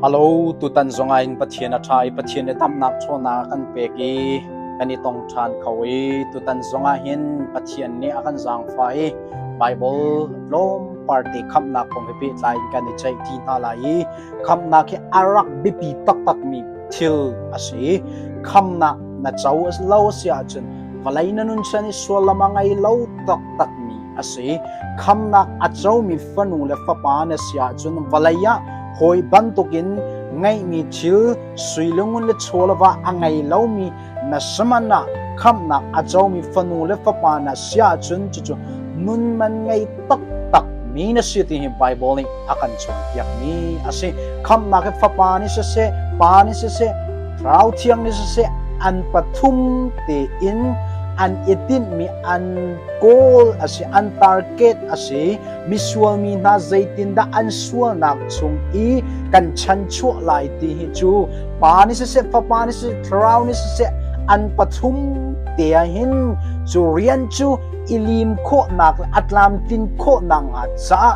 A lo tutan zongah in Pathian a ṭha i Pathian i damnak ṭhawnnak a kan pek i kan i tong ṭhan kho i tutan zongah hin Pathian nih a kan zaangfah i Baibal tlawmpal te khamhnak kong he pehtlai in kan i ceih ṭi hna lai i khamhnak hi a rak biapi taktakmi thil a si i khamhnak na co lo a si ahcun vawlei na nun chan i sual a ngei lo taktakmi a si. Khamnak a comi fanu le fapa na si ahcun vawlei ah hawi bantukin ngeihmi thil suilungun le chawlava a ngei lomi na saman ah khamnak a comi fanu le fapa na si ahcun cucu nun man ngei taktak mi na si ti hi Bible nih a kan cawnpiakmi a si. Khamnak hi fapa nih siseh, pa nih siseh, thau thiang nih siseh an pathum tein an i tinhmi an kawl a si an target a si misual mi hna zeitindah an sualnak chung i kan chanchuah lai ti hi cu pa ni siseh fapa ni siseh thlarau ni siseh an pathum te hin cu rian cu ilim khawhnak le atlam tin khawhnak nga caah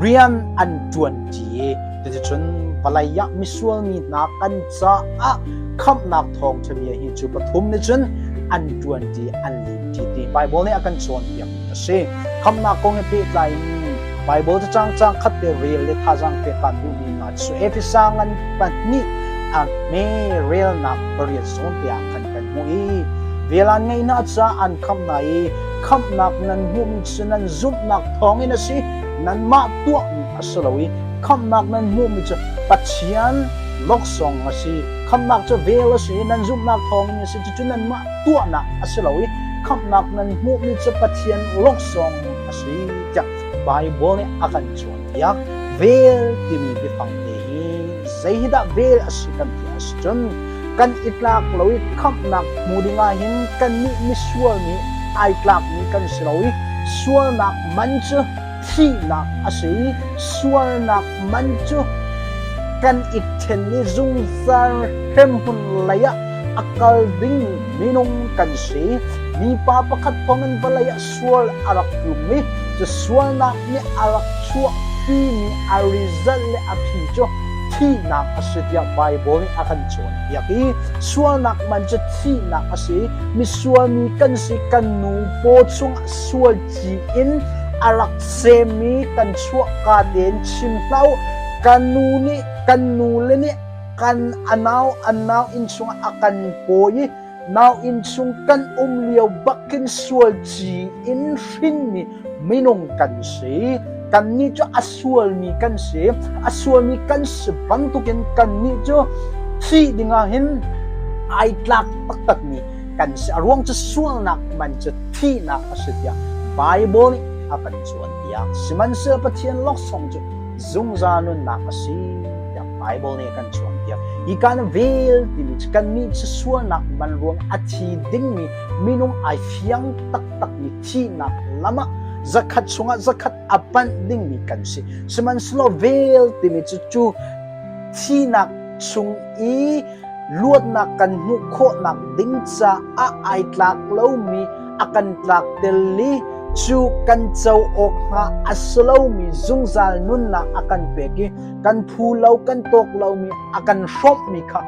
rian an tuan ti cuticun palai ah misual mi hna kan caah khamhnak thawngṭhania hi cu pathum nih cun an ṭuanṭi an limṭi ti Baibal nih a kan cawnpiakmi a si. Khamhnak kong he pehtlaiin Baibal cacang cang khat te rel le thazaang pek kan duhmi hna cu Efesa ngan pahnih a hme relnak pariat zawn te ah khan kan hmuh i velan ngaihnak caah an khamh hna i khamhnak nan hmuhmi cu nan zumhnak thawngin a si nanmah tuahmi a si lo i khamhnak nan hmuhmi cu Pathian Noksong a si. Khamhnak cu vel a si i nan zumhnak thawngin a si. Cucu nanmah tuahnak a si lo i khamhnak nan hmuhmi cu Pathian laksawng a si tiah Baibal nih a kan cawnpiak. Vel timi biafangte hi zeihidah vel a si kan ti a si cun kan i tlak lo i khamhnak hmu ding ahhin kannih misual nih ai tlakmi kan si lo i sualnak man cu thihnak a si i sualnak man cu kan i ṭhen i zungzal hremhmun leiah a kal ding minung kan si. Mipa pakhat thawngin vawlei ah sual a rak tlung i cu sualnak nih a rak chuahpimi a result le a phi cu thihnak a si tiah Baibal nih a kan cawnpiak i sualnak man cu thihnak a si i misual mi kan si kan nu paw chungah sual tiin a rak semmi kan chuahka tein chim hna u kan nu nih kan nu le nih kan a nau an nau inn chungah a kan pawi i nau inn chung kan um lio bakin sual ci in hrinmi minung kan si kannih cu a sualmi kan si a sualmi kan si bantukin kannih cu thih dingah hin ai tlak taktak mi kan a ruang cu sualnak man cu thihnak a si tiah Bible nih a kan cawnpiak sihmanhsehlaw Pathian laksawng cu zungzal nunnak a si tiah Bible nih a kan cawnpiak hi kan vel timi cu kan nih cu sualnak man ruang a thi dingmi minung ai fiang taktakmi thihnak lam ah zakhat chungah zakhat a panh dingmi kan si sihmanhsehlaw vel timi cu cu thihnak chung i luatnak kan hmuh khawhnak ding caah ai tlak lomi a kan tlak tel i cu kan co awk hnga a si lomi zungzal nunnak a kan pek i kan phu lo kan tawk lomi a kan hrawmhmi kha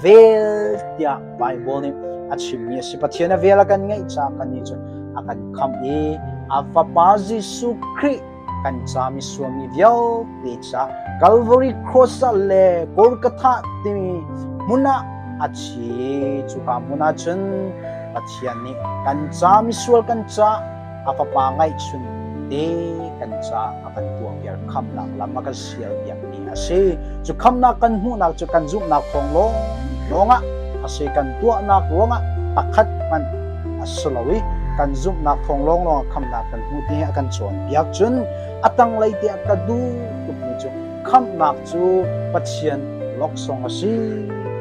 vel tiah Bible nih a chimmi a si Pathian a vel a kan ngeih caah kan nih cun a kan khamh i a fapa Jesuh Khrih kan cami suami vialte ca Calvary Cross ah le Golgotha timi hmun ah a thi cuka hmun ah cun Pathian nih kan ca misual kan ca a fapa ngaihchun te kan ca a kan tuah viar kham nak lam a kan ṭhial piakmi a si. Cu khamnak kan hmuhnak cu kan zumhnak thawng lawng ah a si kan tuahnak ruangah pakhat hmanh a si lo i kan zumhnak thawng lawng lawng khamnak kan hmuh ti a kan cawnpiak cun a tanglei tiah ka duh tukmi cu khamnak cu Pathian laksawng a si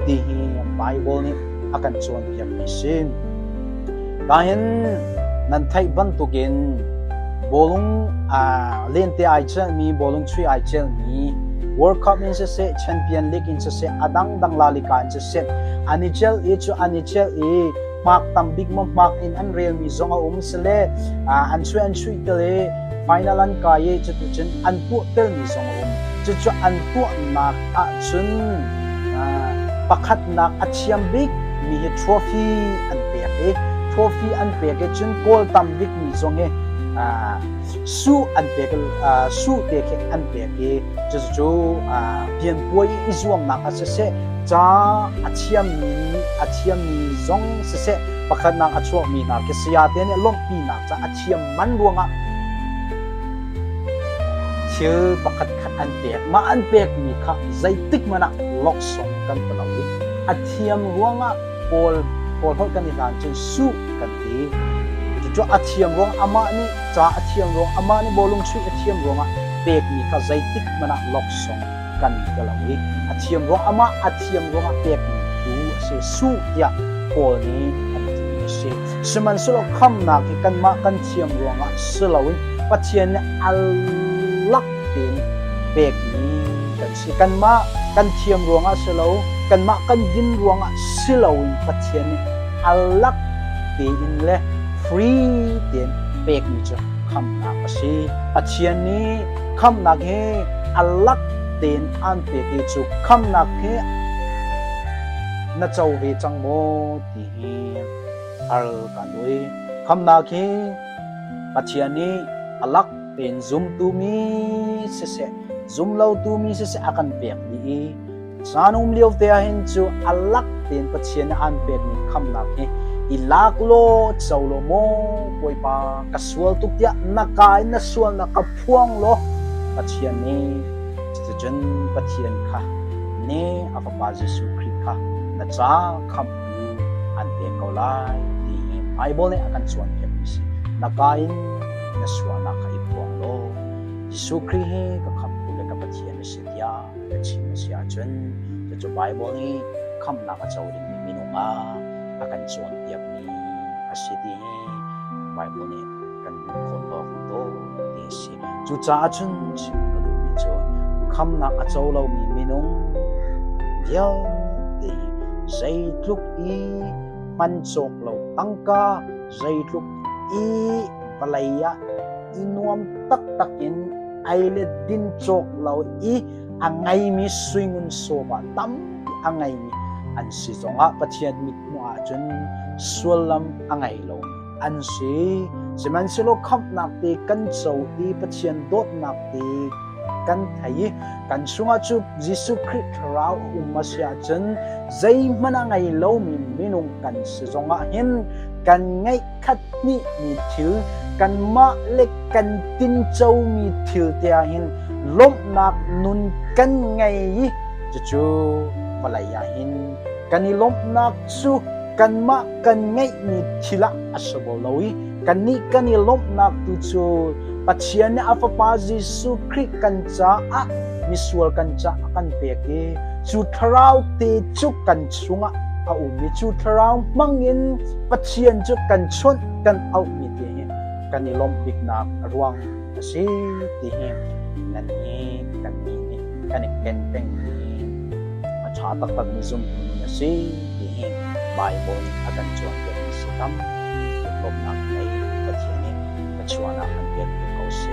ti hi Bible nih a kan cawnpiakmi a si. Kahin nan theih bantukin bawlung lente ai celmi bawlung chui ai celmi World Cup in siseh Champion League in siseh a dangdang lalika in siseh an i cel i cu an i cel i hmak tam bik mo hmak in an relmi zong a um sile an chui an chui tel i final an kai i cutucun an tuah telmi zong a um cucu an tuahnak ahcun pakhatnak a thiam bikmi hi trophy an pek i trophy an pek i cun goal tam bikmi zong hi su an pek su te khi an pek i cucu pianpuai i zuamnak ah siseh ca a thiammi a thiammi zong siseh pakhatnak a chuakmi hna khi saya te nih lawmhpinak ca a thiam man ruangah thil pakhat khat an pek mah an pekmi kha zeitik hmanh ah laksawng kan pe lo i a thiam ruangah Paul Paul holh kan i hlan cun suh kan ti cucu a thiam ruang amah nih ca a thiam ruang amah nih bawlung chuih a thiam ruangah pekmi kha zeitik hmanh ah laksawng kan ka lo i a thiam ruang amah a thiam ruangah pekmi tu a si suh tiah Paul nih an ti a si sihmanhsehlaw khamnak hi kanmah kan thiam ruangah si loin Pathian nih allak tein pekmi kan si kanmah kan thiam ruangah si lo kanmah kan din ruangah si loin Pathian nih allak tein le free tein pekmi cu khamnak a si Pathian nih khamnak he a lak tein an pek i cu khamnak he na co ve cang maw ti hi al kan ui khamnak hi pathian nih alak tein zumtu mi siseh zumlo tu mi siseh a kan pek ni i Zanum lio te ah hin cu a lak tein Pathian nih an pekmi khamnak hi i lak law co law maw Bawipa ka sual tuk tiah na ka in na sualnak ka phuang law Pathian nih cucun Pathian kha ne a fapa Jesuh Khrih kha na ca khamh u an pek ko lai ti hi Bible nih a kan cawnpiakmi si na ka in na sualnak kha i phuang law Jesuh Khrih hi ka khamhtu le ka Pathian a si tiah a chim a si ahcun cucu Baibal i khamhnak a co dingmi minung ah a kan cawnpiakmi a si ti hi Baibal nih kan hmuhkhawh awk to ti a si. Cucaah cun chim ka duhmi cu khamhnak a co lomi minung vialte zeitluk i hman cawk lo tangka zeitluk i vawlei ah i nuam taktak in ei le din cawk lo i a ngeimi suingun sawma tampi a ngeimi an si zongah Pathian mithmuh ahcun sullam a ngei lomi an si sihmanhsehlaw khamhnak te kan co i Pathian dawtnak te kan thei kan chungah cu Jesuh Khrih thlarau a um a si ahcun zeihmanh a ngei lomi minung kan si zongah hin kan ngeih khat hnihmi thil kanmah le kan tincomi thil te ahhin lawmhnak nun kan ngei i cucu vawlei ahhin kan i lawmhnak cu kanmah kan ngeihmi thil ah a si bo lo i kannih kan i lawmhnak tu cu Pathian nih a Fapa Jesuh Khrih kan caah misual kan caah kan pek i cu thlarau te cu kan chungah a ummi cu thlarau hmangin Pathian cu kan chawnh kan auhmi ti hi kan i lawmh biknak ruang a si ti hi nan nih kan nih nih kan i ken pengmi a ṭha taktakmi zumtu a si ti hi Baibal a kan cawnpiak mi si tam lawmnak lei Pathian nih thluachuah ah kan pek ko seh